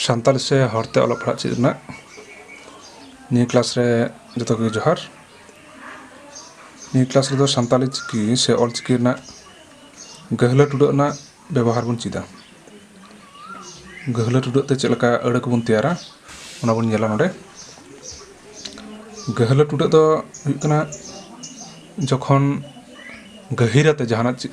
ᱥᱟᱱᱛᱟᱲᱤ ᱥᱮ ᱦᱚᱲᱛᱮ ᱚᱞᱚᱜ ᱯᱟᱲᱦᱟᱜ ᱪᱮᱫ ᱨᱮᱱᱟᱜ ᱱᱤᱭᱟᱹ ᱠᱞᱟᱥ ᱨᱮ ᱡᱚᱛᱚ ᱜᱮ ᱡᱚᱦᱟᱨ ᱱᱤᱭᱟᱹ ᱠᱞᱟᱥ ᱨᱮᱫᱚ ᱥᱟᱱᱛᱟᱲᱤ ᱪᱤᱠᱤ ᱥᱮ ᱚᱞ ᱪᱤᱠᱤ ᱨᱮᱱᱟᱜ ᱜᱟᱹᱦᱞᱟᱹ ᱴᱩᱰᱟᱹᱜ ᱨᱮᱱᱟᱜ ᱵᱮᱵᱚᱦᱟᱨ ᱵᱚᱱ ᱪᱮᱫᱟ ᱜᱟᱹᱦᱞᱟᱹ ᱴᱩᱰᱟᱹᱜ ᱛᱮ ᱪᱮᱫ ᱞᱮᱠᱟ ᱟᱹᱲᱟᱹ ᱠᱚᱵᱚᱱ ᱛᱮᱭᱟᱨᱟ ᱚᱱᱟ ᱵᱚᱱ ᱧᱮᱞᱟ ᱱᱚᱰᱮ ᱜᱟᱹᱦᱞᱟᱹ ᱴᱩᱰᱟᱹᱜ ᱫᱚ ᱦᱩᱭᱩᱜ ᱠᱟᱱᱟ ᱡᱚᱠᱷᱚᱱ ᱜᱟᱹᱦᱤᱨᱟᱛᱮ ᱡᱟᱦᱟᱱᱟᱜ ᱪᱮᱫ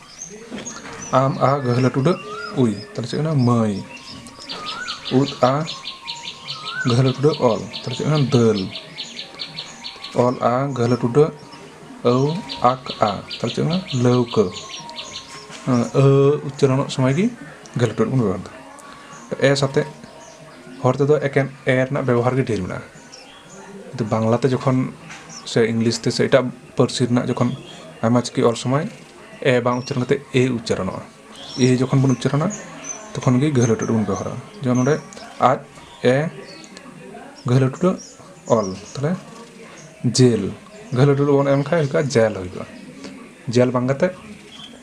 ᱟᱢ ᱟ ᱜᱟᱹᱦᱞᱟᱹ ᱴᱩᱰᱟᱹᱜ ᱩᱭ ᱛᱟᱦᱞᱮ ᱪᱮᱫ ᱠᱟᱱᱟ ᱢᱟᱹᱭ ᱩᱫ ᱟ ᱜᱟᱹᱦᱞᱟᱹ ᱴᱩᱰᱟᱹᱜ ᱚᱞ ᱛᱟᱦᱞᱮ ᱪᱮᱫ ᱠᱟᱱᱟ ᱫᱟᱹᱞ ᱚᱞ ᱟ ᱜᱟᱹᱦᱞᱟᱹ ᱴᱩᱰᱟᱹᱜ ᱟᱹᱣ ᱟᱠ ᱟ ᱛᱟᱦᱞᱮ ᱪᱮᱫ ᱠᱟᱱᱟ ᱞᱟᱹᱣᱠᱟᱹ ᱟᱹ ᱩᱪᱪᱟᱨᱚᱱᱚᱜ ᱥᱚᱢᱚᱭ ᱜᱮ ᱜᱟᱹᱦᱞᱟᱹ ᱴᱩᱰᱟᱹᱜ ᱵᱚᱱ ᱵᱮᱵᱚᱦᱟᱨᱫᱟ ᱮ ᱥᱟᱛᱮᱜ ᱦᱚᱲ ᱛᱮᱫᱚ ᱮᱠᱮᱱ ᱮ ᱨᱮᱱᱟᱜ ᱵᱮᱵᱚᱦᱟᱨ ᱜᱮ ᱰᱷᱮᱨ ᱢᱮᱱᱟᱜᱼᱟ ᱠᱤᱱᱛᱩ ᱵᱟᱝᱞᱟ ᱛᱮ ᱡᱚᱠᱷᱚᱱ ᱥᱮ ᱤᱝᱞᱤᱥ ᱛᱮ ᱥᱮ ᱮᱴᱟᱜ ᱯᱟᱹᱨᱥᱤ ᱨᱮᱱᱟᱜ ᱡᱚᱠᱷᱚᱱ ᱟᱭᱢᱟ ᱪᱤᱠᱤ ᱚᱞ ᱥᱚᱢᱚᱭ ᱮ ᱵᱟᱝ ᱩᱪᱪᱟᱨᱚᱱ ᱠᱟᱛᱮ ᱮ ᱩᱪᱪᱟᱨᱚᱱᱚᱜᱼᱟ ᱮ ᱡᱚᱠᱷᱚᱱ ᱵᱚᱱ ᱩᱪᱪᱟᱨᱚᱱᱟ ᱛᱚᱠᱷᱚᱱ ᱜᱮ ᱜᱟᱹᱦᱞᱟᱹ ᱴᱩᱰᱩ ᱵᱚᱱ ᱵᱮᱵᱚᱦᱟᱨᱟ ᱡᱮᱢᱚᱱ ᱱᱚᱰᱮ ᱟᱡ ᱮ ᱜᱟᱹᱦᱞᱟᱹ ᱴᱩᱰᱩ ᱚᱞ ᱛᱟᱦᱚᱞᱮ ᱡᱮᱞ ᱜᱟᱹᱦᱞᱟᱹ ᱴᱩᱰᱩ ᱵᱚᱱ ᱮᱢ ᱠᱷᱟᱡ ᱡᱮᱞ ᱦᱩᱭᱩᱜᱼᱟ ᱡᱮᱞ ᱵᱟᱝ ᱠᱟᱛᱮ